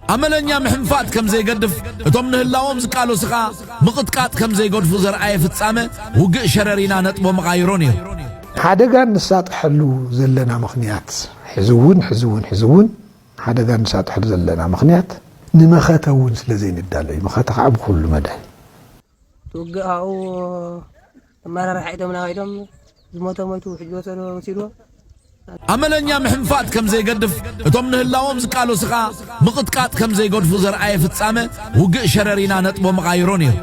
ኣመለኛ ምሕንፋጥ ከም ዘይገድፍ፣ እቶም ንህላወኦም ዝቃለሱ ከኣ ምቕጥቃጥ ከም ዘይገድፉ ዘርኣየ ፍጻመ ውግእ ሸረሪና ነጥቦ መቓይሮ ነይሩ። ሓደጋ እንሳጠሐሉ ዘለና ምኽንያት፣ ሕዚ እውን ሕዚ እውን ሕዚ እውን ሓደጋ እንሳጠሐሉ ዘለና ምኽንያት ንመኸተ እውን ስለ ዘይንዳሎ እዩ፣ መኸተ ከኣ ብኹሉ መዳይ። ውግእ ኣብኡ ኣመራርሓ ኢዶም ናባኢዶም ዝሞተ ሞይቱ ውሕጅ ዝወሰዶ ወሲድዎ ኣመለኛ ምሕንፋጥ ከም ዘይገድፍ እቶም ንህላዎም ዝቃለሱ ከኣ ምቕጥቃጥ ከም ዘይገድፉ ዘርኣየ ፍጻመ ውግእ ሸረሪና ነጥቦ መቓይሮ ነይሩ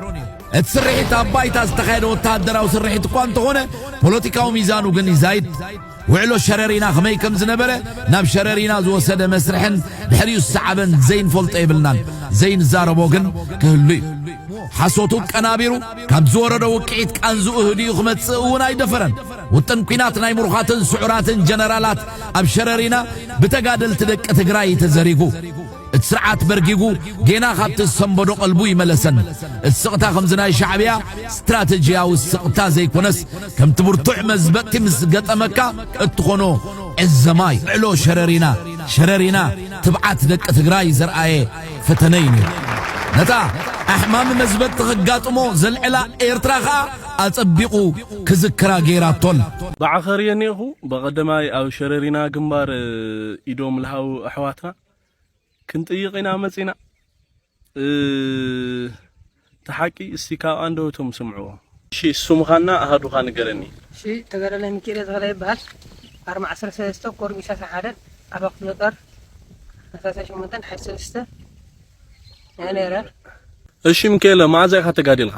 እቲ ስርሒት ኣብ ባይታ ዝተኻየደ ወተሃደራዊ ስርሒት እኳ እንተኾነ ፖለቲካዊ ሚዛኑ ግን ይዛይድ ውዕሎ ሸረሪና ከመይ ከም ዝነበረ ናብ ሸረሪና ዝወሰደ መስርሕን ድሕሪኡ ዝሰዓበን ዘይንፈልጦ የብልናን፣ ዘይንዛረቦ ግን ክህሉ እዩ። ሓሶቱ ኣቀናቢሩ ካብ ዝወረዶ ውቅዒት ቃንዝኡ ህድኡ ክመጽእ እውን ኣይደፈረን። ውጥን ኲናት ናይ ምሩኻትን ስዑራትን ጀነራላት ኣብ ሸረሪና ብተጋደልቲ ደቂ ትግራይ እዩ ተዘሪጉ። እቲ ስርዓት በርጊጉ ጌና ካብቲ ዝሰንበዶ ቀልቡ ይመለሰን። እቲ ስቕታ ከምዚ ናይ ሻዕብያ ስትራተጂያዊ ስቕታ ዘይኮነስ ከምቲ ብርቱዕ መዝበጥቲ ምስ ገጠመካ እትኾኖ ዕዘማይ ዕሎ ሸረሪና ሸረሪና ትብዓት ደቂ ትግራይ ዘርኣየ ፈተነ እዩ ነይሩ። ነታ ኣሕማሚ መዝበጥቲ ከጋጥሞ ዘልዕላ ኤርትራ ከኣ ኣጸቢቑ ክዝክራ ገይራቶ ኣላ። ብዓኸር እየ እኔኹ። በቐደማይ ኣብ ሸረሪና ግንባር ኢዶም ልሃቡ ኣሕዋትና። ክንጥይቕ ኢና መጺና እቲ ሓቂ እስቲ ካብ ኣንደበቶም ስምዕዎ። እሺ ስምኻና ኣሃዱኻ ንገረኒ። እሺ ተጋዳላይ ሚኪኤለ ተኽላይ ይበሃል ኣርማ ዓሰርተ ሰለስተ ኮር ሚእቲ ዓሰርተ ሓደ ኣበባ ክፍለ ጦር ኣስታት ሸሞንተ ሓይሊ ሰለስተ እየ ነይረ። እሺ ሚኪኤለ መኣዝ ኢኻ ተጋዲልኻ?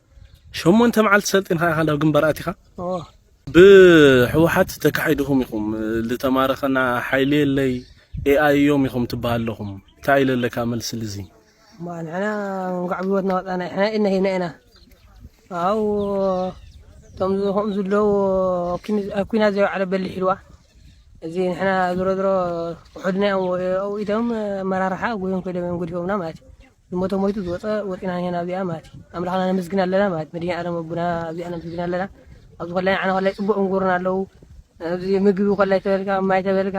ሸሞንተ መዓልቲ ሰልጢንካ ኢኻ ናብ ግንባር ኣቲኻ። ብሕውሓት ተካሒድኹም ኢኹም ዝተማረኸና ሓይሊ የለይ ኤኣይ እዮም ኢኹም ትበሃል ኣለኹም ታይ ኢለ ኣለካ መልሲ ልዚ። እማ ንሕና እንኳዕ ብህይወትና ወፃና ንሕና ኢድና ሂብና ኢና ኣው እቶም ከምኡ ዝለው ኣብ ኩናት ዘይወዓለ በሊሕ ኢልዋ እዚ ንሕና ዝሮ ዝሮ ውሑድና እዮም ኣብኡ ኢቶም ኣመራርሓ ጎዮም ከይዶም እዮም ገዲፎምና ማለት እዩ ዝሞተ ሞይቱ ዝወጸ ወጺና ኒሀና ኣብዚኣ ማለት እዩ ኣምላኽና ነመስግን ኣለና ማለት እዩ መድሂኒኣለም ኣቦና ኣብዚኣ ነመስግን ኣለና ኣብዚ ኮላይ ንዓና ኮላይ ጽቡቅ እንጎሩና ኣለዉ ኣብዚ ምግቢ ኮላይ ተበልካ ማይ ተበልካ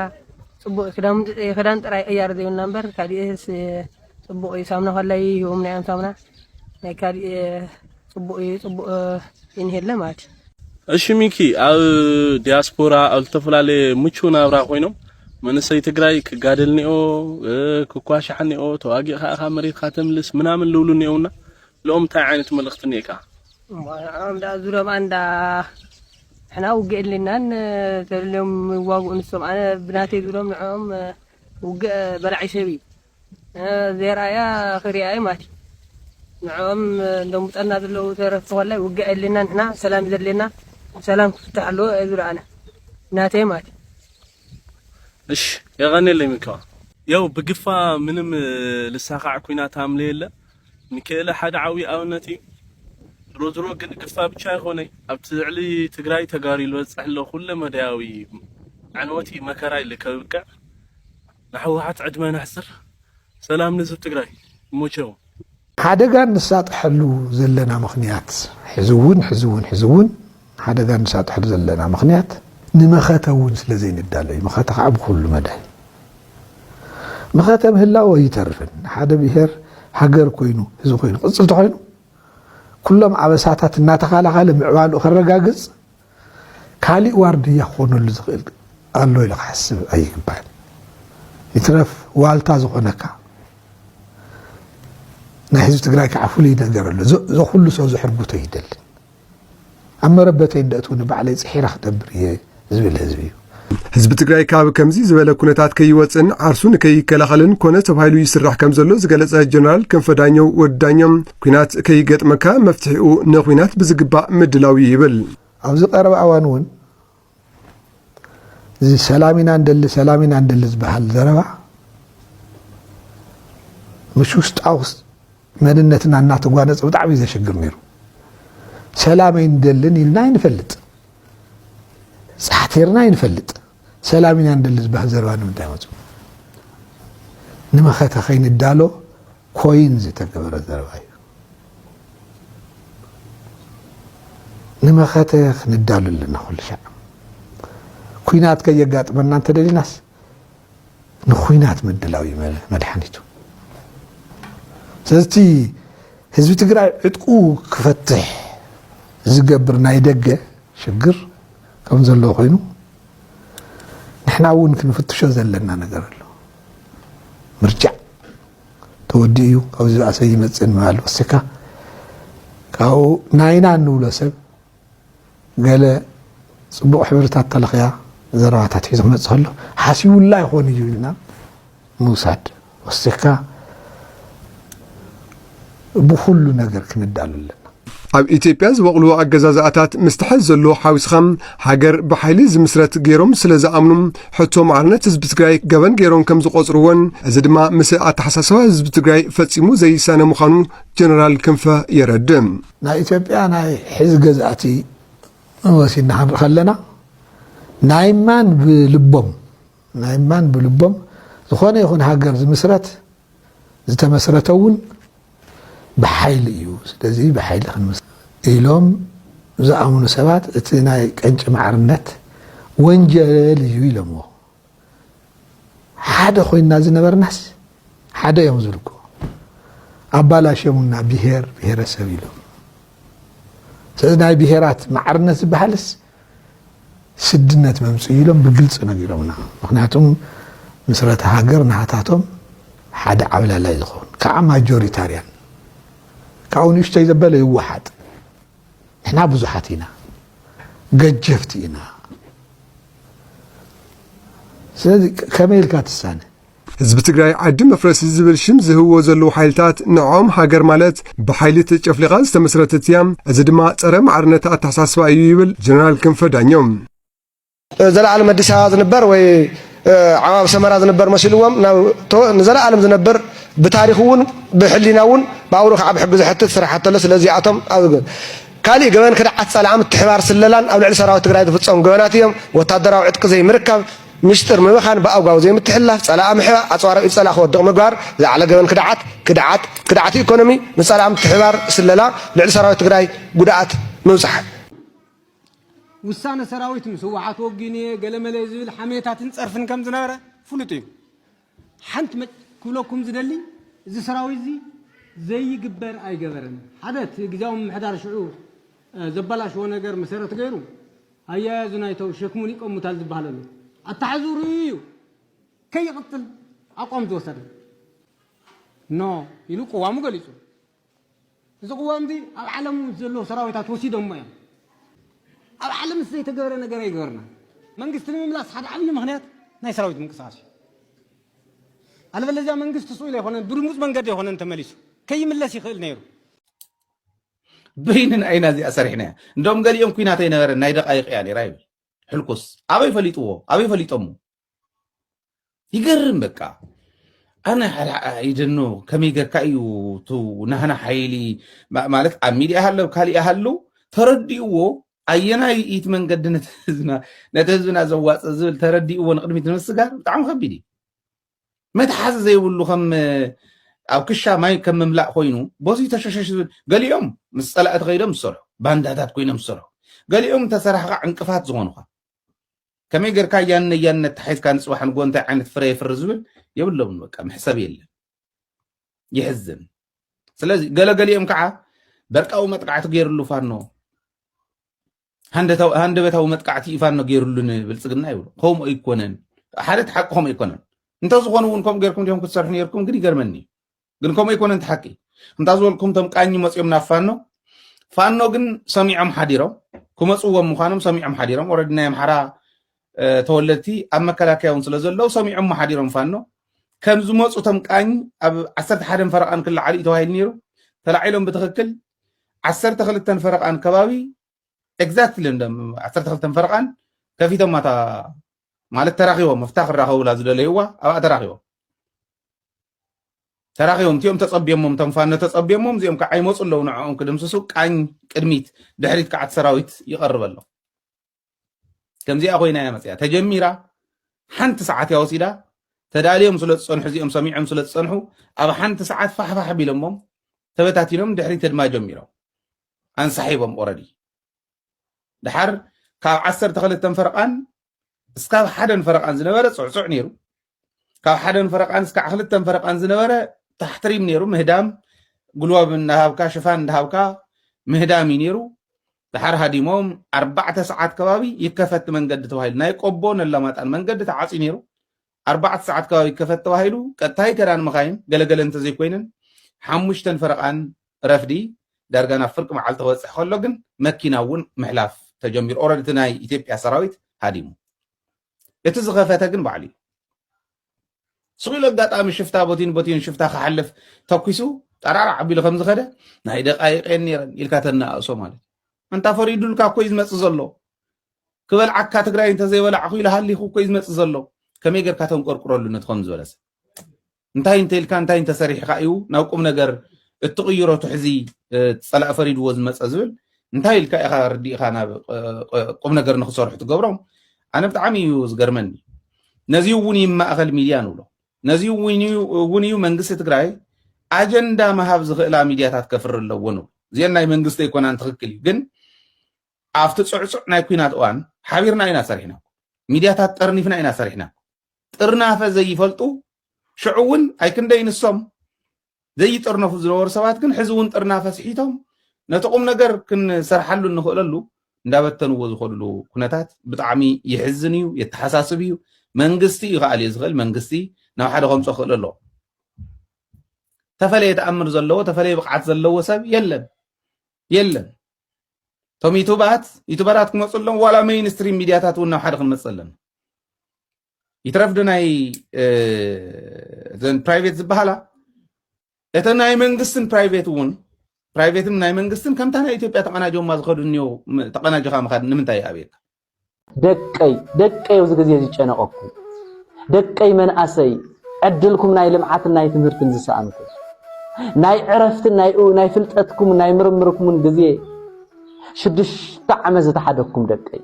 ጽቡቅ ክዳምንቲ ክዳን ጥራይ ቀያሪ ዘይብልና እምበር ካሊእስ ጽቡቅ እዩ ሳምና ኮላይ ሂቦምና እዮም ሳምና ናይ ካሊእ ጽቡቅ እዩ ጽቡቅ ይንሄለ ማለት እዩ። እሺ ሚኪ ኣብ ዲያስፖራ ኣብ ዝተፈላለየ ምቹው ናብራ ኮይኖም መንእሰይ ትግራይ ክጋደል ኒኦ ክኳሻሕ ኒኦ ተዋጊእካ ኢኻ መሬትካ ተምልስ ምናምን ልብሉ ኒኦውና ልኦም እንታይ ዓይነት መልእኽቲ ኒኤካ? ንዖም ደኣ ዙርዮም ኣንዳ ንሕና ውግእ የድልየናን ተልዮም ይዋግኡ ንሶም ኣነ ብናተይ ዙርዮም ንዕኦም ውግእ በላዒ ሰብ እዩ ዜርኣያ ክሪኣ እየ ማቲ ንዕኦም ደንቡጠና ዘለዉ ተረፍ ተኮላይ ውግዕ የድልየና ንሕና ሰላም እዩ ዘድልየና ብሰላም ክፍታሕ ኣለዎ እየ ዝብሎ ኣነ ናተይ ማቲ። እሽ የቀኔለይ ምኪዋ ያው ብግፋ ምንም ልሳካዕ ኩናት ሃምለ የለ ምኪኤለ ሓደ ዓብይ ኣብነት እዩ ድሮ ድሮ ግን ግፋ ብቻ ኣይኮነይ ኣብ ትዕሊ ትግራይ ተጋሩ ልበፅሕ ሎ ኩለ መዳያዊ ዕንወት እዩ መከራ እዩ ልከብቅዕ ንሕወሓት ዕድመን ኣሕፅር ሰላም ንህዝብ ትግራይ ይሞቸው። ሓደጋ እንሳጠሐሉ ዘለና ምኽንያት ሕዝውን ሕዝውን ሕዝውን ሓደጋ እንሳጠሐሉ ዘለና ምኽንያት ንመኸተ እውን ስለዘይንዳሎ እዩ። መኸተ ከዓ ብኹሉ መዳይ መኸተ ምህላው ኣይተርፍን። ሓደ ብሄር ሃገር ኮይኑ እዚ ኮይኑ ቅፅል ተኾይኑ ኩሎም ኣበሳታት እናተኻላኻለ ምዕባልኡ ከረጋግፅ ካሊእ ዋርድያ ክኾነሉ ዝኽእል ኣሎ ኢሉ ክሓስብ ኣይግባእን። ይትረፍ ዋልታ ዝኾነካ ናይ ህዝቢ ትግራይ ከዓ ፍሉይ ነገር ኣሎ ዘኩሉ ሰው ዘሕርጉቶ ይደልን ኣብ መረበተይ እንደእትውኒ ባዕለይ ፅሒረ ክነብር እየ ዝብል ህዝቢ እዩ ህዝቢ ትግራይ ካብ ከምዚ ዝበለ ኩነታት ከይወፅእን ዓርሱ ንከይከላኸልን ኮነ ተባሂሉ ይስራሕ ከም ዘሎ ዝገለጸ ጀነራል ክንፈ ዳኘው ወዲ ዳኘው ኩናት ከይገጥመካ መፍትሒኡ ንኩናት ብዝግባእ ምድላው እዩ ይብል። ኣብዚ ቀረባ እዋን እውን እዚ ሰላም ኢና ንደሊ ሰላም ኢና ንደሊ ዝበሃል ዘረባ ምስ ውሽጣዊ መንነትና እናተጓነፀ ብጣዕሚ እዩ ዘሸግር ነይሩ። ሰላም ኣይንደልን ኢልና ኣይንፈልጥ፣ ፃሕቴርና ኣይንፈልጥ፣ ሰላም ኢና ንደሊ ዝበሃል ዘረባ ንምንታይ መፁ? ንመኸተ ከይንዳሎ ኮይን ዝተገበረ ዘረባ እዩ። ንመኸተ ክንዳሉ ኣለና ኩሉ ሻዕ ኩናት ከየጋጥመና እንተደሊናስ ንኩናት ምድላው እዩ መድሓኒቱ። ስለዚ እቲ ህዝቢ ትግራይ ዕጥቁ ክፈትሕ ዝገብር ናይ ደገ ሽግር ከም ዘሎ ኮይኑ ንሕና እውን ክንፍትሾ ዘለና ነገር ኣሎ ምርጫ ተወዲኡ እዩ ካብዚ ዝኣሰ ይመፅእ ምባል ወሲካ ካብኡ ናይና እንብሎ ሰብ ገለ ጽቡቕ ሕብርታት ተለኽያ ዘረባታት ሒዞ ክመጽእ ከሎ ሓሲቡላ ይኾን እዩ ኢልና ምውሳድ ወሲኽካ ብኹሉ ነገር ክንዳሉ ኣለና። ኣብ ኢትዮጵያ ዝበቕሉ ኣገዛዝኣታት ምስ ትሐዝ ዘሎ ሓዊስኻ ሃገር ብሓይሊ ዝምስረት ገይሮም ስለ ዝኣምኑ ሕቶ ማዕርነት ህዝቢ ትግራይ ገበን ገይሮም ከም ዝቖጽርዎን እዚ ድማ ምስ ኣተሓሳስባ ህዝቢ ትግራይ ፈጺሙ ዘይሳነ ምዃኑ ጀነራል ክንፈ የረድእ። ናይ ኢትዮጵያ ናይ ሕዚ ገዛእቲ ወሲድና ክንርኢ ከለና ናይ ማን ብልቦም ናይ ማን ብልቦም ዝኾነ ይኹን ሃገር ዝምስረት ዝተመስረተ እውን ብሓይሊ እዩ ስለዚ ብሓይሊ ክንምስ ኢሎም ዝኣምኑ ሰባት እቲ ናይ ቀንጭ ማዕርነት ወንጀል እዩ ኢሎምዎ ሓደ ኮይንና ዝነበርናስ ሓደ እዮም ዝብሉ እኮ ኣባላሽዮሙና ብሄር ብሄረሰብ ኢሎም ስለዚ ናይ ብሄራት ማዕርነት ዝበሃልስ ስድነት መምፅኡ ኢሎም ብግልፂ ነጊሮምና ምክንያቱም ምስረተ ሃገር ናሃታቶም ሓደ ዓብላላይ ዝኸውን ከዓ ማጆሪታርያን ካብኡ ንእሽተይ ዘበለ ይወሓጥ ንሕና ብዙሓት ኢና ገጀፍቲ ኢና ስለዚ ከመይ ኢልካ ትሳነ ህዝቢ ትግራይ ዓዲ መፍረሲ ዝብል ሽም ዝህብዎ ዘለዉ ሓይልታት ንዕኦም ሃገር ማለት ብሓይሊ ተጨፍሊቓ ዝተመስረተት እያ፣ እዚ ድማ ጸረ ማዕርነት ኣተሓሳስባ እዩ ይብል ጀነራል ክንፈ ዳኘው። ዘለኣለም ኣዲስ ኣበባ ዝንበር ወይ ዓማብ ሰመራ ዝንበር መሲልዎም ንዘለኣለም ዝነብር ብታሪክ እውን ብሕሊና እውን ብኣውሩ ከዓ ብሕጊ ዝሕትት ስራሕ ኣተሎ ስለዚኣቶም ካልእ ገበን ክድዓት ፀላዓ ምትሕባር ስለላን ኣብ ልዕሊ ሰራዊት ትግራይ ዝፍፀሙ ገበናት እዮም ወታደራዊ ዕጥቂ ዘይምርካብ ሚስጥር ምብኻን ብኣጓዊ ዘይምትሕላፍ ፀላኣ ምሕባእ ኣፅዋራዊ ኢድ ፀላእ ክወድቕ ምግባር ዝዓለ ገበን ክድዓት ክድዓት ክድዓት ኢኮኖሚ ንፀላኣ ምትሕባር ስለላ ልዕሊ ሰራዊት ትግራይ ጉድኣት ምብፃሕ ውሳነ ሰራዊት ምስ ህወሓት ወጊን'የ ገለመለ ዝብል ሓሜታትን ፀርፍን ከም ዝነበረ ፍሉጥ እዩ። ሓንቲ ክብለኩም ዝደሊ እዚ ሰራዊት እዚ ዘይግበር ኣይገበረን። ሓደ እቲ ግዝያዊ ምምሕዳር ሽዑ ዘበላሸዎ ነገር መሰረት ገይሩ ኣያያዙን ኣይተው ሸክሙን ይቀሙታል ዝበሃል ኣሎ ኣተሓሕዝኡ ርእዩ እዩ ከይቕፅል ኣቋም ዝወሰደ። ኖ ኢሉ ቅዋሙ ገሊፁ። እዚ ቅዋምዚ ኣብ ዓለም ምስ ዘለዉ ሰራዊታት ወሲዶሞ እዮም። ኣብ ዓለም ምስ ዘይተገብረ ነገር ኣይገበርና። መንግስቲ ንምምላስ ሓደ ዓብዪ ምኽንያት ናይ ሰራዊት ምንቅስቓስ እዩ። ኣለበለዚያ መንግስቲ ስኢሉ ኣይኮነን ብድንጉፅ መንገዲ ኣይኮነን ተመሊሱ ከይምለስ ይኽእል ነይሩ። በይንና ኢና እዚኣ ሰሪሕናያ እንዶም ገሊኦም ኩናት ኣይነበረን ናይ ደቃይቅ እያ ነይራ ይብል ሕልኩስ ኣበይ ፈሊጥዎ ኣበይ ፈሊጦሞ ይገርም በቃ ኣነ ይደኖ ከመይ ገርካ እዩ ቱ ናህና ሓይሊ ማለት ኣብ ሚድያ ሃለው ካሊእ ሃሉ ተረዲእዎ ኣየናይ ኢት መንገዲ ነቲ ህዝብና ዘዋፅ ዝብል ተረዲእዎ ንቅድሚት ንምስጋር ብጣዕሚ ከቢድ እዩ መትሓዚ ዘይብሉ ከም ኣብ ክሻ ማይ ከም ምምላእ ኮይኑ በዚ ተሸሸሽ ዝብል ገሊኦም ምስ ፀላእቲ ከይዶም ዝሰርሑ ባንዳታት ኮይኖም ዝሰርሑ ገሊኦም ተሰራሕካ ዕንቅፋት ዝኾኑኻ ከመይ ገርካ እያን ነያን ነታሒዝካ ንጽባሕ ንግሆ እንታይ ዓይነት ፍረ የፍሪ ዝብል የብሎምን በቃ መሕሰብ የለን ይሕዝን ስለዚ ገለገሊኦም ከዓ በርቃዊ መጥቃዕቲ ገይርሉ ፋኖ ሃንደበታዊ መጥቃዕቲ እዩ ፋኖ ገይርሉ ንብልፅግና ይብሉ ከምኡ ኣይኮነን ሓደ ሓቂ ከምኡ ኣይኮነን እንተዝኾኑ እውን ከምኡ ገርኩም ዲኹም ክትሰርሑ ነርኩም ግን ይገርመኒ ግን ከምኡ ኣይኮነን እቲ ሓቂ እንታ ዝበልኩም እቶም ቃኝ መፅኦም ናብ ፋኖ ፋኖ ግን ሰሚዖም ሓዲሮም ክመፅዎም ምዃኖም ሰሚዖም ሓዲሮም ኦረዲ ናይ ኣምሓራ ተወለድቲ ኣብ መከላከያ እውን ስለ ዘለዉ ሰሚዖም ሓዲሮም ፋኖ ከም ዝመፁ እቶም ቃኝ ኣብ ዓሰርተ ሓደን ፈረቓን ክለዓሉ እዩ ተባሂሉ ነይሩ ተላዒሎም ብትኽክል ዓሰርተ ክልተን ፈረቓን ከባቢ ኤግዛክትሊ ዓሰርተ ክልተን ፈረቓን ከፊቶማ እታ ማለት ተራኺቦም ኣብታ ክራኸቡላ ዝደለይዋ ኣብኣ ተራኺቦም ተራኺቦም እቲኦም ተፀብዮሞም እቶም ፋኖ ተፀብዮሞም እዚኦም ከዓ ይመፁ ኣለዉ ንዕኦም ክድምስሱ ቃኝ ቅድሚት ድሕሪት ከዓ እቲ ሰራዊት ይቐርብ ኣሎ ከምዚኣ ኮይና እያ መፅያ ተጀሚራ ሓንቲ ሰዓት እያ ወሲዳ ተዳልዮም ስለ ዝፀንሑ እዚኦም ሰሚዖም ስለ ዝፀንሑ ኣብ ሓንቲ ሰዓት ፋሕፋሕ ቢሎሞም ተበታቲኖም ድሕሪት ህድማ ጀሚሮም ኣንሳሒቦም ኦረዲ ድሓር ካብ ዓሰርተ ክልተን ፈረቓን እስካብ ሓደን ፈረቓን ዝነበረ ፅዕፁዕ ነይሩ ካብ ሓደን ፈረቓን እስካዕ ክልተን ፈረቓን ዝነበረ ታሕትሪም ነይሩ ምህዳም ጉልባብ እናሃብካ ሽፋን እንዳሃብካ ምህዳም እዩ ነይሩ ድሓር ሃዲሞም ኣርባዕተ ሰዓት ከባቢ ይከፈት መንገዲ ተባሂሉ ናይ ቆቦ ነላማጣን መንገዲ ተዓፅዩ ነይሩ ኣርባዕተ ሰዓት ከባቢ ይከፈት ተባሂሉ ቀጥታይ ከዳን መኻይን ገለ ገለ እንተዘይኮይነን ሓሙሽተን ፈረቓን ረፍዲ ዳርጋ ናብ ፍርቂ መዓልቲ ክበፅሕ ከሎ ግን መኪና እውን ምሕላፍ ተጀሚሩ ኦረዲ እቲ ናይ ኢትዮጵያ ሰራዊት ሃዲሙ እቲ ዝኸፈተ ግን ባዕሉ እዩ ስኺሉ ኣጋጣሚ ሽፍታ ቦቲን ቦቲን ሽፍታ ክሓልፍ ተኪሱ ጠራራ ዓቢሉ ከም ዝኸደ ናይ ደቃይቀን ነይረን ኢልካ ተነኣእሶ ማለት እንታ ፈሪዱልካ እኮ እዩ ዝመፅእ ዘሎ ክበልዓካ ትግራይ እንተዘይበላዕኹ ኢሉ ሃሊኹ እኮ እዩ ዝመፅእ ዘሎ ከመይ ጌርካ ተንቆርቁረሉ ነቲ ከምዚ ዝበለ ሰብ እንታይ እንተኢልካ እንታይ እንተሰሪሕካ እዩ ናብ ቁም ነገር እትቕይሮ ትሕዚ ፀላእ ፈሪድዎ ዝመፀ ዝብል እንታይ ኢልካ ኢኻ ርዲእኻ ናብ ቁም ነገር ንክሰርሑ ትገብሮም ኣነ ብጣዕሚ እዩ ዝገርመኒ ነዚ እውን እዩ ማእኸል ሚድያ ንብሎ ነዚ እውን እዩ መንግስቲ ትግራይ ኣጀንዳ ምሃብ ዝኽእላ ሚድያታት ከፍሪ ኣለዎ ንብሎ እዚአን ናይ መንግስቲ ኣይኮናን ትኽክል እዩ ግን ኣብቲ ጽዕጹዕ ናይ ኩናት እዋን ሓቢርና ኢና ሰሪሕና ሚድያታት ጠርኒፍና ኢና ሰሪሕና ጥርናፈ ዘይፈልጡ ሽዑ እውን ኣይክንደይ ንሶም ዘይጥርነፉ ዝነበሩ ሰባት ግን ሕዚ እውን ጥርናፈ ስሒቶም ነቲ ቁም ነገር ክንሰርሓሉ እንኽእለሉ እንዳበተንዎ ዝኸድሉ ኩነታት ብጣዕሚ ይሕዝን እዩ የተሓሳስብ እዩ መንግስቲ እዩ ከኣልዮ ዝኽእል መንግስቲ ናብ ሓደ ከምፆ ክእል ኣለዎ ተፈለየ ተኣምር ዘለዎ ተፈለየ ብቕዓት ዘለዎ ሰብ የለን የለን እቶም ዩቱባት ዩቱበራት ክመፁ ኣለዎም ዋላ መይን ስትሪም ሚድያታት እውን ናብ ሓደ ክንመፅእ ኣለና ይትረፍ ዶ ናይ ዘን ፕራይቬት ዝበሃላ እተ ናይ መንግስትን ፕራይቬት እውን ፕራይቬትን ናይ መንግስትን ከምታ ናይ ኢትዮጵያ ተቀናጆማ ዝኸዱ እኒው ተቀናጅኻ ምኻድ ንምንታይ ኣብየካ ደቀይ ደቀይ ኣብዚ ግዜ ዝጨነቐኩም ደቀይ መንኣሰይ ዕድልኩም ናይ ልምዓትን ናይ ትምህርትን ዝሰኣንኩም ናይ ዕረፍትን ናይ ፍልጠትኩምን ናይ ምርምርኩምን ግዜ ሽዱሽተ ዓመት ዝተሓደኩም ደቀይ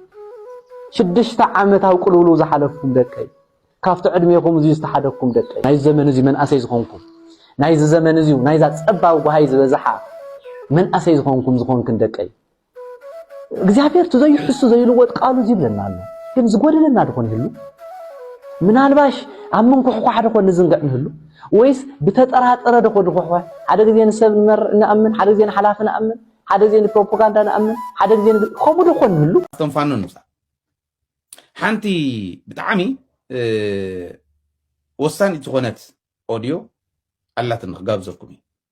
ሽዱሽተ ዓመት ኣብ ቅልውልው ዝሓለፍኩም ደቀይ ካብቲ ዕድሜኹም እዚ ዝተሓደኩም ደቀይ ናይ ዘመን እዚ መንኣሰይ ዝኾንኩም ናይዚ ዘመን እዚ ናይዛ ጸባብ ጓሃይ ዝበዝሓ መንኣሰይ ዝኾንኩም ዝኾንክን ደቀይ እግዚኣብሔር እቲ ዘይሕሱ ዘይልወጥ ቃሉ እዚ ይብለና ኣሎ ግን ዝጎደለና ድኾን ይህሉ ምናልባሽ ኣብ ምንኩሕኳሕ ድኾን ንዝንግዕ ንህሉ ወይስ ብተጠራጠረ ድኾ ንኩሕኳሕ ሓደ ግዜ ንሰብ ንኣምን ሓደ ግዜ ንሓላፊ ንኣምን ሓደ ግዜ ንፕሮፓጋንዳ ንኣምን ሓደ ግዜ ከምኡ ድኾን ንህሉ ኣቶም ፋኖ ንብዛ ሓንቲ ብጣዕሚ ወሳኒት ዝኾነት ኦድዮ ኣላትን ክጋብዘኩም እዩ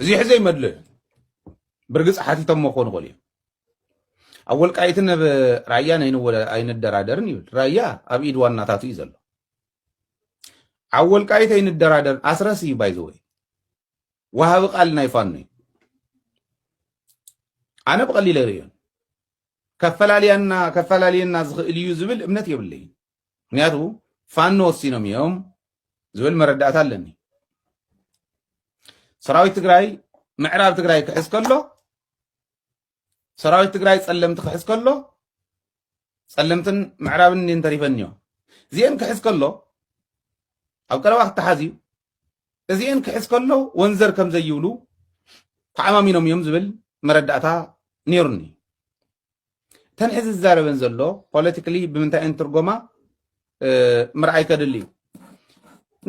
እዚ ሕዘ ይመልእ ብርግፅ ሓቲቶሞ ክኾኑ ይኽእሉ እዮም ኣብ ወልቃይትን ኣብ ራያን ኣይንደራደርን ይብል ራያ ኣብ ኢድ ዋናታቱ እዩ ዘሎ ኣብ ወልቃይት ኣይንደራደርን ኣስረስ እዩ ባይዘወይ ወሃቢ ቃል ናይ ፋኖ እዩ ኣነ ብቐሊለ ይርእዮን ከፈላልያና ከፈላልየና ዝኽእል እዩ ዝብል እምነት የብለይን ምክንያቱ ፋኖ ወሲኖም እዮም ዝብል መረዳእታ ኣለኒ ሰራዊት ትግራይ ምዕራብ ትግራይ ክሕዝ ከሎ ሰራዊት ትግራይ ጸለምቲ ክሕዝ ከሎ ጸለምትን ምዕራብን እኔን ተሪፈን እዮም እዚአን ክሕዝ ከሎ ኣብ ቀረባ ክተሓዝ እዩ እዚአን ክሕዝ ከሎ ወንዘር ከም ዘይብሉ ተዓማሚኖም እዮም ዝብል መረዳእታ ነይሩኒ እተን ሕዚ ዝዛረበን ዘሎ ፖለቲካሊ ብምንታይ እየን ትርጎማ ምርኣይ ከድሊ እዩ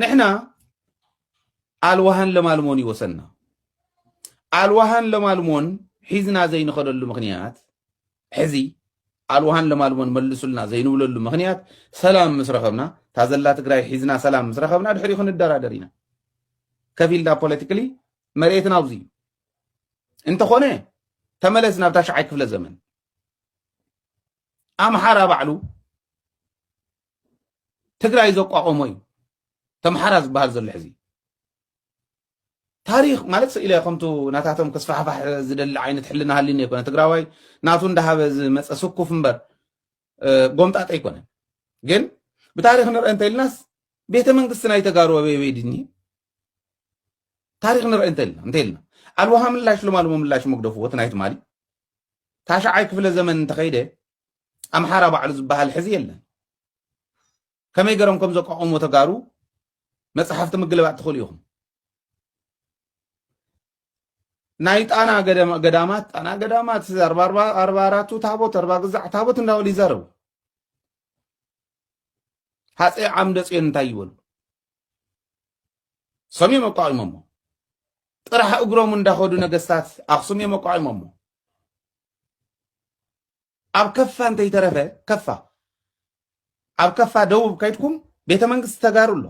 ንሕና ኣልዋሃን ለማልሞን ይወሰና ኣልዋሃን ለማልሞን ሒዝና ዘይንኸደሉ ምክንያት ሕዚ ኣልዋሃን ለማልሞን መልሱልና ዘይንብለሉ ምክንያት ሰላም ምስ ረኸብና እታ ዘላ ትግራይ ሒዝና ሰላም ምስ ረኸብና ድሕሪኡ ክንደራደር ኢና ከፊልና ፖለቲካሊ መሬትና ኣብዚ እዩ እንተኾነ ተመለስ ናብ ታሽዓይ ክፍለ ዘመን ኣምሓራ ባዕሉ ትግራይ ዘቋቆሞ እዩ ተምሓራ ዝበሃል ዘሎ ሕዚ ታሪክ ማለት ስኢለ ከምቱ ናታቶም ክስፋሕፋሕ ዝደሊ ዓይነት ሕልና ሃሊኒ ኣይኮነ ትግራዋይ ናቱ እንዳሃበ ዝመፀ ስኩፍ እምበር ጎምጣጠ ኣይኮነ ግን ብታሪክ ንርአ እንተኢልናስ ቤተ መንግስቲ ናይ ተጋሩ ኣበይ ድኒ ታሪክ ንርኢ እንተልና እንተልና ኣልዋሃ ምላሽ ልማልሞ ምላሽ መግደፉ ወት ናይ ትማሊ ታሽዓይ ክፍለ ዘመን እንተኸይደ ኣምሓራ ባዕሉ ዝበሃል ሕዚ የለን ከመይ ገሮም ከም ዘቋቆሞ ተጋሩ መፅሓፍቲ ምግልባጥ ትኽእሉ ኢኹም ናይ ጣና ገዳማት ጣና ገዳማት ኣርባ ኣራቱ ታቦት ኣርባ ግዛዕ ታቦት እንዳበሉ ይዛረቡ ሃፀይ ዓምደ ፅዮን እንታይ ይበሉ ሰምዮም ኣቋቂሞሞ ጥራሕ እግሮም እንዳኸዱ ነገስታት ኣክሱም እዮም ኣቋቂሞሞ ኣብ ከፋ እንተይተረፈ ከፋ ኣብ ከፋ ደቡብ ከይድኩም ቤተ መንግስቲ ተጋሩ ኣሎ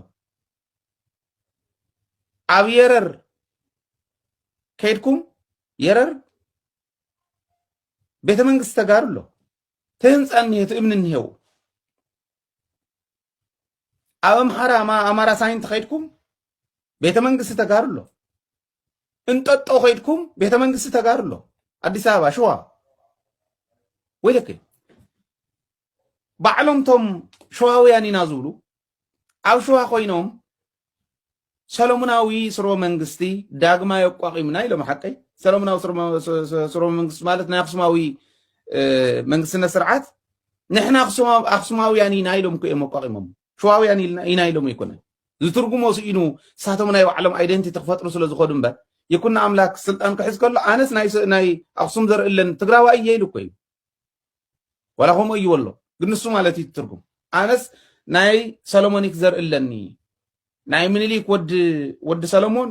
ኣብ የረር ከይድኩም የረር ቤተ መንግስቲ ተጋሩ ኣሎ ትህንፃ እኒሄ ትእምኒ እኒሄው ኣብ ኣምሓራ ኣማራ ሳይንት ከይድኩም ቤተ መንግስቲ ተጋሩ ኣሎ እንጠጦ ከይድኩም ቤተ መንግስቲ ተጋሩ ኣሎ ኣዲስ ኣበባ ሽዋ ወይለክ ባዕሎም ቶም ሸዋውያን ኢና ዝብሉ ኣብ ሸዋ ኮይኖም ሰለሙናዊ ስርወ መንግስቲ ዳግማይ ኣቋቒምና ኢሎም ሓቀይ ሰለሙናዊ ስርወ መንግስቲ ማለት ናይ ኣክሱማዊ መንግስትነት ስርዓት ንሕና ኣክሱማውያን ኢና ኢሎም እኮ እዮም ኣቋቒሞም ሸዋውያን ኢና ኢሎም ኣይኮነ ዝትርጉሞ ስኢኑ ንሳቶም ናይ ባዕሎም ኣይደንቲቲ ክፈጥሩ ስለ ዝኸዱ እምበር ይኩን ኣምላክ ስልጣን ክሕዝ ከሎ ኣነስ ናይ ኣክሱም ዘርእለን ትግራዋ እየ ኢሉ እኮ እዩ ዋላ ከምኡ እዩ ወሎ ግን ንሱ ማለት እዩ ትርጉም ኣነስ ናይ ሰለሞኒክ ዘርኢ ኣለኒ ናይ ምኒልክ ወዲ ወዲ ሰለሞን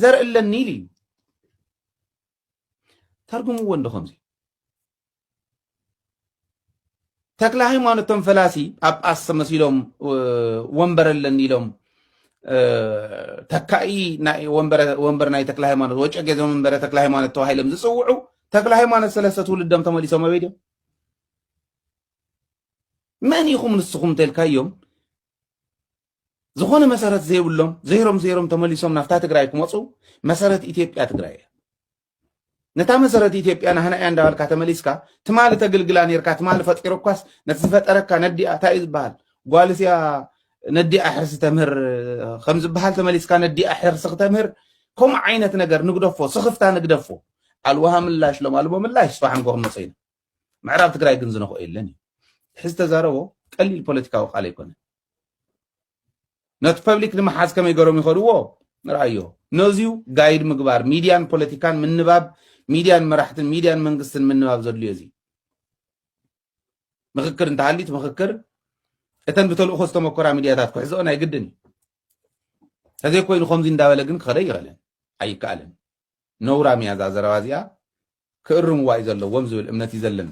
ዘርኢ ኣለኒ ኢሉ እዩ ተርጉምዎ እንዶ ከምዚ ተክለሃይማኖት እቶም ፈላሲ ጳጳስ ተመሲሎም ወንበር ኣለኒ ኢሎም ተካኢ ወንበር ናይ ተክለ ሃይማኖት ወጨጌ ዘመንበረ ተክለ ሃይማኖት ተባሂሎም ዝፅውዑ ተክለ ሃይማኖት ሰለስተ ትውልዶም ተመሊሶም ኣበይ ድዮም? መን ኢኹም ንስኹም እንተልካዮም ዝኾነ መሰረት ዘይብሎም ዘይሮም ዘይሮም ተመሊሶም ናብታ ትግራይ ክመፁ መሰረት ኢትዮጵያ ትግራይ እያ። ነታ መሰረት ኢትዮጵያ ናህና እያ እንዳበልካ ተመሊስካ ትማሊ ተግልግላ ኔርካ ትማሊ ፈጢሩኳስ ነቲ ዝፈጠረካ ነዲኣ እንታይ እዩ ዝበሃል ጓልስ እያ ነዲኣ ሕርሲ ተምህር ከም ዝበሃል ተመሊስካ ነዲኣ ሕርሲ ክተምህር ከምኡ ዓይነት ነገር ንግደፎ ስኽፍታ ንግደፎ ኣልዋሃ ምላሽ ሎም ኣልቦ ምላሽ ስፋሕ ንኮ ክንመፀ ኢና ምዕራብ ትግራይ ግን ዝነኽኦ የለን እዩ ሕዚ ተዛረቦ ቀሊል ፖለቲካዊ ቃል ኣይኮነን ነቲ ፐብሊክ ንምሓዝ ከመይ ገሮም ይኸድዎ ንርኣዮ ነዚዩ ጋይድ ምግባር ሚድያን ፖለቲካን ምንባብ ሚድያን መራሕትን ሚድያን መንግስትን ምንባብ ዘድልዮ እዚ ምክክር እንተሃሊት ምክክር እተን ብተልእኮ ዝተመኮራ ሚድያታት ክሕዝኦ ናይ ግድን እዩ ተዘይኮይኑ ከምዚ እንዳበለ ግን ክኸደ ይኸለን ኣይከኣልን ነውራም እያ እዛ ዘረባ እዚኣ ክእርምዋ እዩ ዘለዎም ዝብል እምነት እዩ ዘለኒ